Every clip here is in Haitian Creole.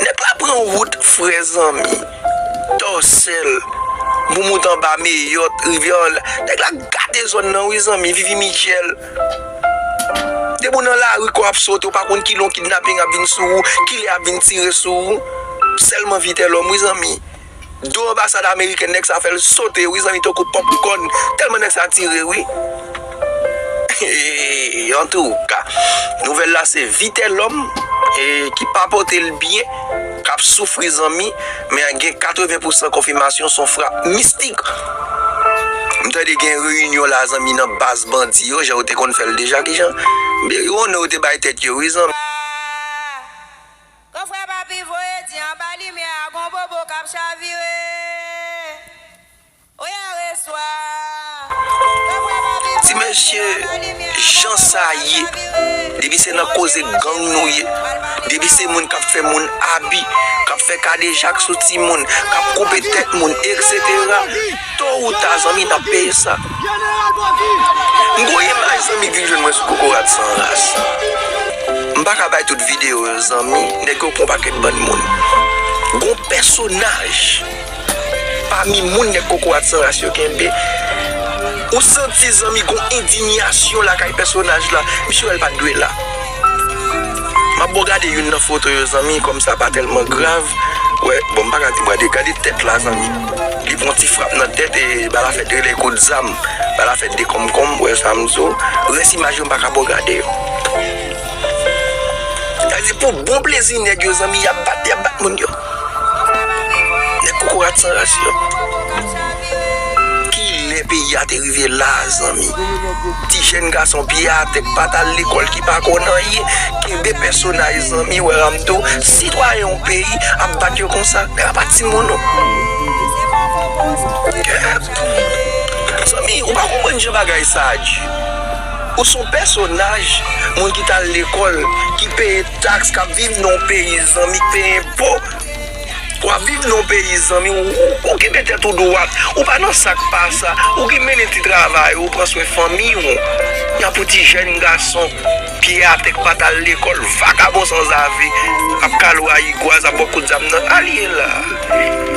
Nèg la pran wout frè zanmi Dorsel Boumout anba Meyòt rivyè Òlè Nèg la gate zòn nan wi zanmi Vivi Mitchell Depi ou nan lari kò ap sote ou pa konn kilè yon kidnaping ap vin sou ou kilè yap vin tire sou ou Sèlman Vitelhomme wi zanmi. Do anbasad amerikèn nèg sa fèl sote wi zanmi tankou popcorn tèlman nèg sa tire wi antouka nouvèl la se vitelòm ki pa potel byen kap soufri zanmi men gen 80 pousan konfimasyon son frap mistik m tande gen reyinyon la zanmi nan baz bandi yo jan yo te konn fèl deja kijan yo te bay tèt yo wi zanmi. Kon frè papi voye di anba limyè a gon bobo kap chavire oyè reswa Kon frè papi voye di anba limyè a gon bobo kap chavire Depi se nan koze gang nou ye Depi se moun kap fè moun abi Kap fè kadejak sou timoun Kap koupe tèt moun etc. To ou ta zanmi nap peye sa. M gon imaj zanmi k vin jwenn mwen sou kokorat san ras. M paka bay tout video yo zanmi nèg yo pran paket bann moun. Gon pèsonaj pami moun nèg kokorat san ras yo kenbe ou santi zanmi gon endinyasyon lakay pèsonaj la misye wè l pat dwe la. Map bon gade youn nan foto yo zanmi kom sa pa telman grav wè bon mpaka di gade gade tèt la zanmi li pran ti frap nan tèt e bal la fè 2 lè kout zam bal la fè 2 konmkonm ou wè sam di w rès imaj yo mpaka bon gade yo sa vle di pou bon plezi nèg yo zanmi yap bat yap bat moun yo. Nèg kokorat san ras yo. Kilè peyi a te rive la zanmi. Ti jèn gason pye atè k pat al lekòl ki pa konn anyen kenbe pèsonaj zanmi Weram tou sitwayen yon peyi ap bat yo konsa men apa timoun ou Zanmi ou pa konprann jan bagay sa a di ou son pèsonaj moun ki tal lekòl ki peye Tax kap viv nan yon peyi zanmi peye enpo wap viv nan yon peyi zanmi ou kenbe tèt ou dwat ou pa nan sak pa sa ou ki mennen ti travay ou pran swen fanmiy ou yap ou ti jèn gason pye atè ki pat al lekòl vagabon sanzave ap kalo a igwaz ap bo kout zam nan al ye la.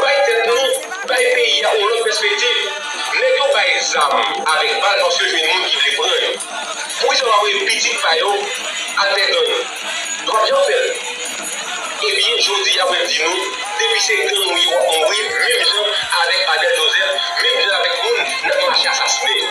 Bay tèt nou, bay peyi a yon lòt pèspektiv. Nèg yo bay zam avèk bal paske yo jwenn moun ki vle pran yo. Poukisa yo pa voye pitit pa yo atè gang? Yo pap janm fèl. Ebyen jodi a mwen di nou depi se gang ou ye wap mouri menm jan avèk Abel Joseph, menm jan avèk moun nap mache asasinen.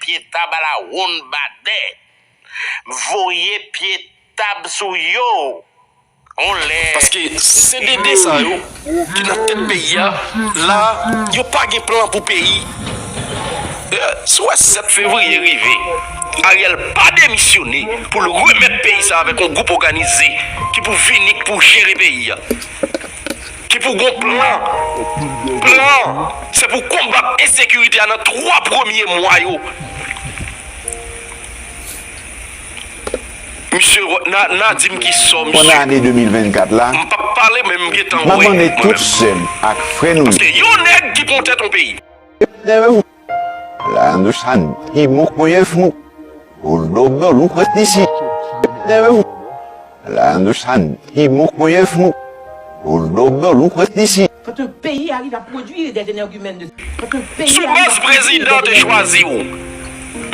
Pye tab ala wonn badè. M voye pye tab sou yo on lè. Paske CDD sa yo ki nan tèt peyi a la yo pa gen plan pou peyi si w wè 7 fevriye rive Ariel pa demisyone pou l remèt peyi sa avèk yon gwoup òganize ki pou vini ki pou jere peyi a. ki pou gon plan, plan an se pou konbat ensekirite a nan 3 premye mwa yo, misye nan di m ki sò misye, m p ap pale men m gentan wè mwen menm, paske yon nèg ki pran tèt yon peyi. Lan nou san ti mou kouye fou, Boul dodo nou pran ti si Tètè ou Lan nou san ti mou kouye fou, Boul dodo nou pran ti si. Sou mès prezidan te chwazi ou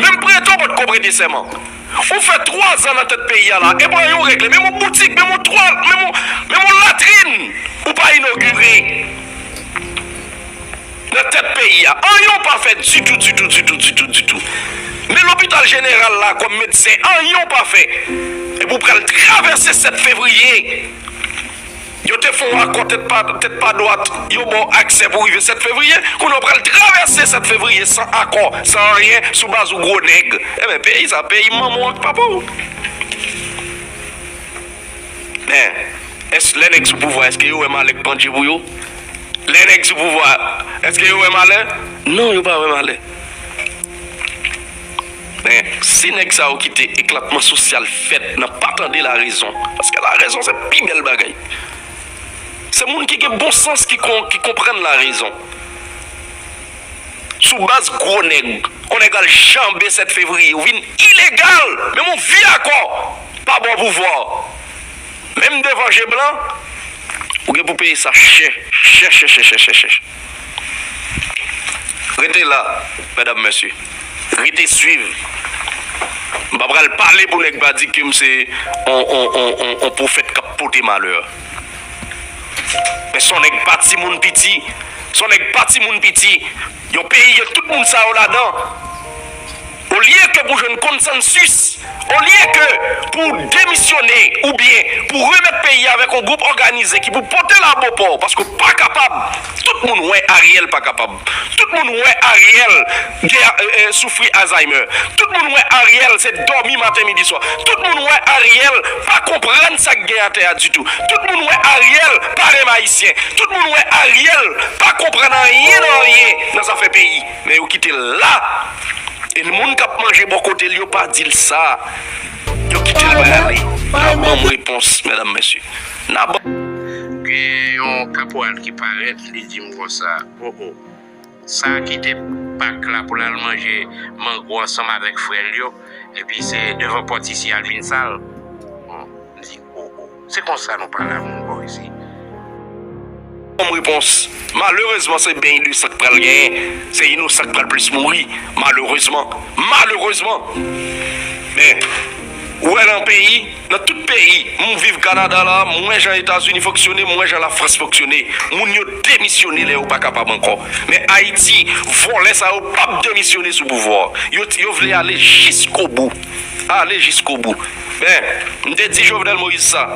Menm prete w pa t ko prete sèman Ou fè twa zan nan tèt peyi a la e pa yon regle Menm yon boutik, menm yon twal, menm yon latrin Ou pa inogire. Nan tèt peyi a, anyen w pa fè ditou, ditou, ditou, ditou, ditou. Men lopital jeneral la kòm medsen, anyen w pa fè. Epi w pral travèse 7 fevriye. Yo te fè yon akò tèt pa tèt pa dwat, yo ba w aksè pou w rive 7 fevriye. Kounye a w pral travèse 7 fevriye san akò, san anyen, sou baz ou gwo nèg. Enben peyi sa, peyi manman w ak papa w. Est lè nèg sou pouvwa eske yo wè malè k pandje pou yo? Lè nèg sou pouvwa eske yo wè malè? Non yo pa wè malè. Men si nèg sa yo kite eklatman sosyal fèt nan pa tande la rezon, paske la rezon se pi bèl bagay. Se moun ki gen bon sans ki konprann la rezon. Sou baz gwo nèg kon nèg al janbe 7 fevriye ou vin ilegal menm ou via kò pa bò pouvwa menm devan je blan ou gen pou peye sa chè chè chè chè chè chè chè rete la medam mesye rete swiv m pa pral pale pou nèg pa di kem se on on on on pwofèt kap pote malè. Men son nèg pa ti moun piti, son nèg pa ti moun piti, yon peyi gen tout moun sa yo ladan, olye ke pou jwenn konsansus, olye ke pou w demisyone oubyen pou w remèt peyi a avèk yon gwoup òganize ki pou pote l a bo pò w paske w pa kapab, tout moun wè Ariel pa kapab. Tout moun wè Ariel gen soufri Alzheimer. Tout moun wè Ariel se dòmi maten midi swa. Tout moun wè Ariel pa konprann sa k gen atè a ditou. Tout moun wè Ariel pa renmn Ayisyen. Tout moun wè Ariel pa konprann anyen nan anyen nan zafè peyi. Men yo kite l la e moun k ap manje bò kote l yo pa di l sa. Yo kite l prale. N ap ban m repons medam mesye. N ap. Gen yon kapwal ki parèt li di m konsa, O o! Sa a kite pak la pou l al manje mango ansanm avèk frè l yo, epi se devan pòt isi y al vin sal. M di, O o! Se konsa nou pale a moun bò isi? Kòm repons, Malerezman se ben inosan k pral genyen, se inosan k pral plis mouri, malerezman, malerezman! Men. Ou wè nan peyi, nan tout peyi, m viv Kanada la, m wè jan Etazini fonksyone, m wè jan Lafrans fonksyone. Moun yo demisyone lè yo pa kapab ankò. Men Ayiti, vòlè sa yo pap demisyone sou pouvwa. Yo yo vle ale jiskobou. Ale jiskobou. Men, m te di Jovenel Moïse sa,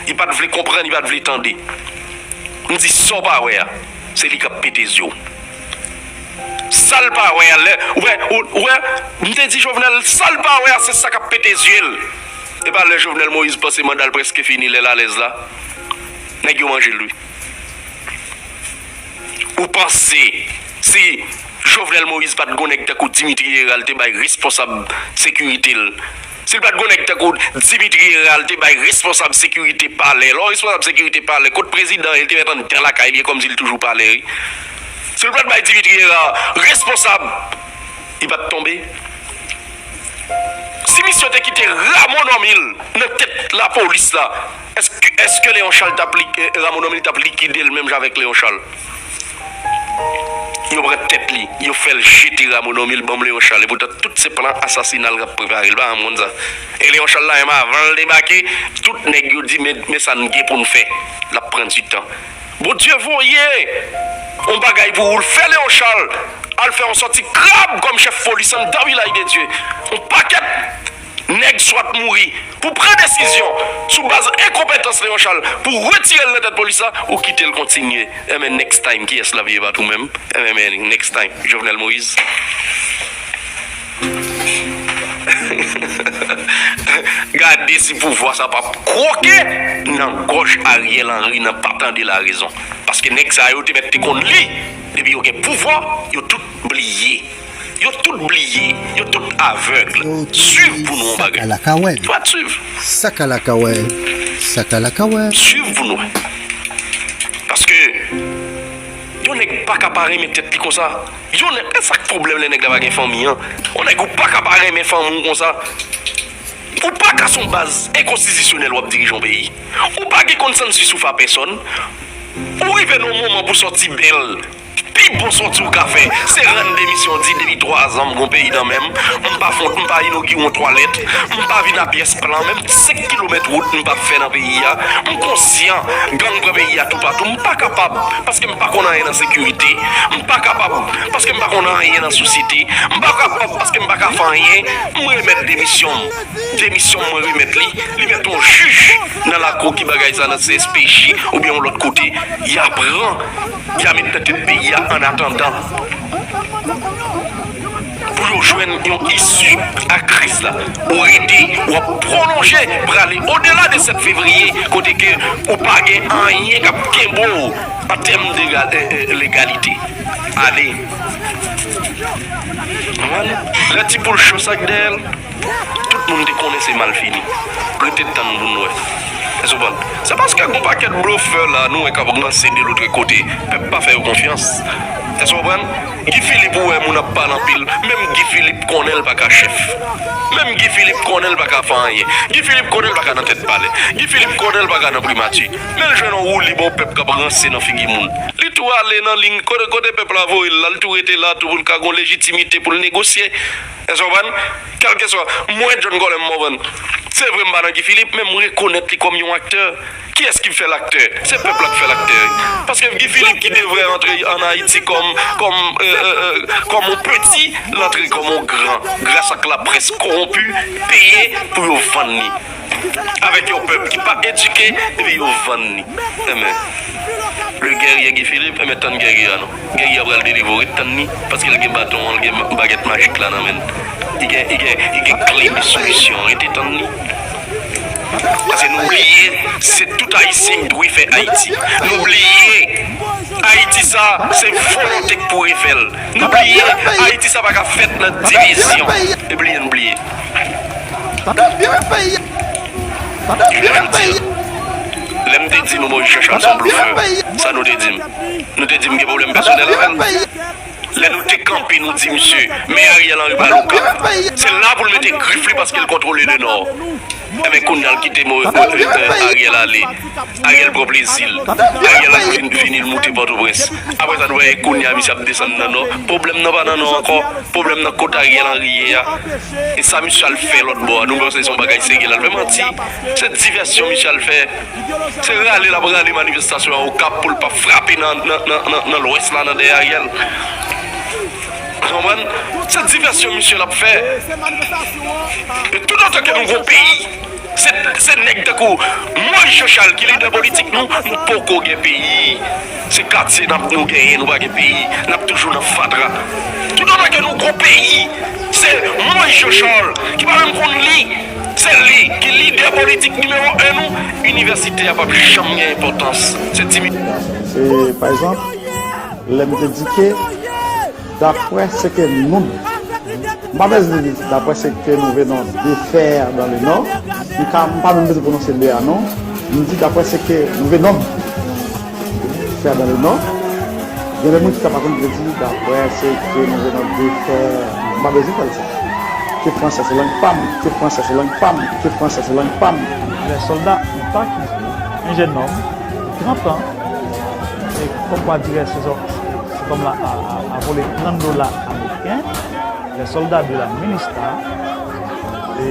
li pa t vle konprann, li pa t vle tande. M di sa w pa wè a, se li k ap pete zye w. Sal pa wè a lè ou wè ou wè m te di jovenel sal pa wè a se sa kap pete zyel epa lè jovenel moïse panse mandal preske fini lèl alèz la nèg yo manjel wi ou panse si jovenel moïse pat gon nèg tankou dimitri herald te bay responsab sekiritel Si l pa t gon nèg tankou Dimitri Herard te bay responsab sekirite palè lò responsab sekirite palè kot prezidan an e l te mèt anndan lakay li e kòmsi l toujou palè wi si l pa t bay Dimitri Herard responsab li pa t tonbe si misye yo te kite Rameau Normil nan tèt lapolis la èske èske Léon Charles t ap li Rameau Normil t ap likide l menm jan avèk Léon Charles. Yo pran tèt li, yo fèl jete Ramo Normil li banm Leon Charles epoutan tout se plan asasinal kap preparel pa janm konn sa e Leon Charles la menm avanl debake tout nèg yo di men sa nou gen poun fè lap pran du tan Bondye voye yon bagay pou ou l fè Leon Charles al fè yon sòti krab kòm chèf polis anndan vilaj de Dye yon pakèt Nèg swat mouri pou pran desizyon sou baz enkonpetans Léon Charles pou retirel nan tèt polis la ou kitel kontinye enben next time kiyès lap ye bat ou menm enben next time Jovenel Moïse gade si pouvwa sa pap kwoke nan gòj Ariel Henry nan pa tande la rezon paske nèg sa yo te mèt te konn li depi yo gen pouvwa yo tout bliye. Yo tout bliye, yo tout avèg. Yo tout bliye, sakalakawèl. Sakalakawèl, sakalakawèl. Swiv pou nou wè. Paske yon nèg pa ka pa renmen tèt li konsa. Yon nèg, e sak pwoblèm lè nèg la pa gen fanmi an? Yon nèg ou pa ka pa renmen fanmi w konsa. Ou pa ka son baz enkonstitisyonèl wap dirije yon peyi. Ou pa gen konsansi sou fa pèsòn. Ou rive nan yon moman pou sòti bèl. Pi bon sòti ou ka fè se rann demisyon di depi 3 zan m gon peyi nan menm m pa fon m pa inogire yon twalèt m pa vin a pyès plan menm 5 kilomèt wout m pap fè nan peyi a m konsyan gang pran peyi a toupatou m pa kapab paske m pa konn anyen nan sekirite m pa kapab paske m pa konn anyen nan sosyete m pa kapab paske m pa ka fè anyen m remèt demisyon m demisyon m mwen remèt li li mèt yon jij nan lakou ki bagay sa nan cspj oubyen yon lòt kote ya pran ya met nan tèt peyi a an atandan pou yo jwenn yon isi a kriz la. Ou rete w ap pwolonje prale odela de 7 fevriye kote ke ou pa gen anyen k ap kenbe w an tèm de legalite. Ale! Konprann? Lè ti boul cho sa k dèyè l. Tout moun te konnen se mal fini. Rete tann pou n wè. Èske w konprann? Se paske gen yon pakèt blofè la nou wè k ap ranse de lotre kote. Pèp pa fè yo konfyans. Èske w konprann? Guy Philippe ou wè moun ap pale anpil. Menm Guy Philippe konnen l pa ka chèf. Menm Guy Philippe konnen l pa ka fè anyen. Guy Philippe konnen l pa ka nan tèt palè. Guy Philippe konnen l pa ka nan primati. Men l jwenn yon woulib yon pèp k ap ranse nan figi moun. Li tou ale nan liy kote pèp la voye l la. Li tou rete la tou pou l ka gen yon lejitimite pou l negosye. Èske w konprann? Kèlkeswa, m wè John Colem Morvan. Se vre m pa nan Guy Philippe, men m rekonèt li kòm yon aktè. Kiyès ki fè l aktè? Se pèp la ki fè l aktè. Paske Guy Philippe ki devre antre ann Ayiti kòm, kòm, kòm yon peti, l antre kòm yon gran, gras ak laprès kowonpi, peye pou yo vann li. Avèk yon pèp ki pa edike, epi yo vann li. Enben, le guerrier Guy Philippe, enben tann gè Guy a non. Guerrier pral delivre ou ret tann li paske li gen baton an li gen bagèt majik la nan menn li gen li gen li gen kle de solisyon an rete tann li paske nou bliye se tout ayisyen ki pou refè ayiti nou bliye ayiti sa se volonte ki pou refèl nou bliye ayiti sa paka fèt nan divizyon e bliye nou bliye lèm te di nou bon jachan son blofè sa nou te dim. Nou te di m gen pwoblèm pèsonèl avè l. Lè nou te kanpe nou di misye, men Ariel Henry pa lokap. Se la pou l mete grif li paske l kontwole le nò. Enben kounya l kite Ariel ale. Ariel pran plezi l. Ariel ap vini l moute Pòtoprens. Apre sa nou wè e kounya misye ap desann nan nò. Pwoblèm nan pa nan nò ankò. Pwoblèm nan kot Ariel Henry ye a. E sa misye al fè lòtbò a. Nou panse se yon bagay serye l al fè. Manti. Se divèsyon misye al fè. Se rale lap rale manifestasyon an okap poul pa frape nan lwès la nan dèyè Ariel ou konprann se divèsyon misye lap fè e tout otan ke nou gon peyi se nèg tankou Moise Jean Charles ki lidè politik nou nou poko gen peyi se katye nap nou genyen nou pa gen peyi nap toujou nan fatra tout otan ke nou gon peyi se Moise Jean Charles ki pa menm konn li. Se li ki lidè politik nimewo 1 nou, inivèsite a pap janm gen enpòtans. Se ti. E pa egzanp, lè m te di ke daprè se ke nou, m pa bezwen di daprè se ke nou venons de faire dans le Nord, m ka, m pa menm bezwen pwononse le a non, m di daprè se ke nou venons. Fè bon ou non. Gen lè moun chita pa konn vle di daprè se ke nou vle nan de fè m pa bezwen fè l sa. Ke franse se lang pa m, ke franse se lang pa m, ke franse se lang pa m. Lè sòlda an pa kite yon jennonm trantan e kòmkwadire se zòm la a vole 30 dola ameriken, lè sòlda de la minista e.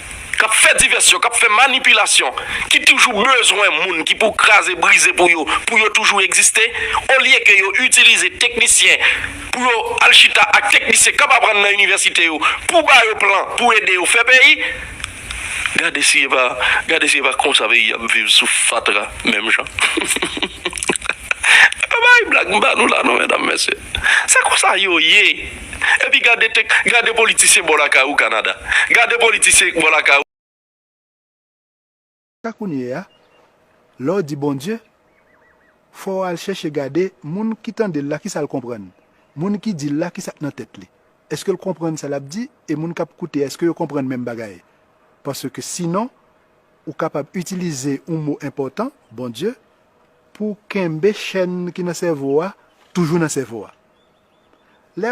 k ap fè divèsyon, k ap fè manipilasyon, ki toujou bezwen moun ki pou kraze brize pou yo, pou yo toujou egziste, olye ke yo itilize teknisyen pou yo al chita ak teknisyen k ap aprann nan inivèsite yo pou ba yo plan pou ede yo fè peyi. Gade si e pa, gade si e pa konsa peyi a ap viv sou fatra menm jan. M pa bay blag, m ba nou la non medam mesye. Se konsa yo ye. Epi gade tek gade politisyen bò lakay ou Canada. Gade politisyen bò lakay ou. Sa kounye a, lè w di Bondye, fò w al chèche gade moun ki tande l la kisa l konprann? Moun ki di l la kisa k nan tèt li? Èske l konprann sa l ap di e moun k ap koute a èske yo konprann menm bagay? Paske sinon ou kapab itilize yon mo enpòtan, Bondye, Pou kenbe chèn ki nan sèvo a toujou nan sèvo a. Lè.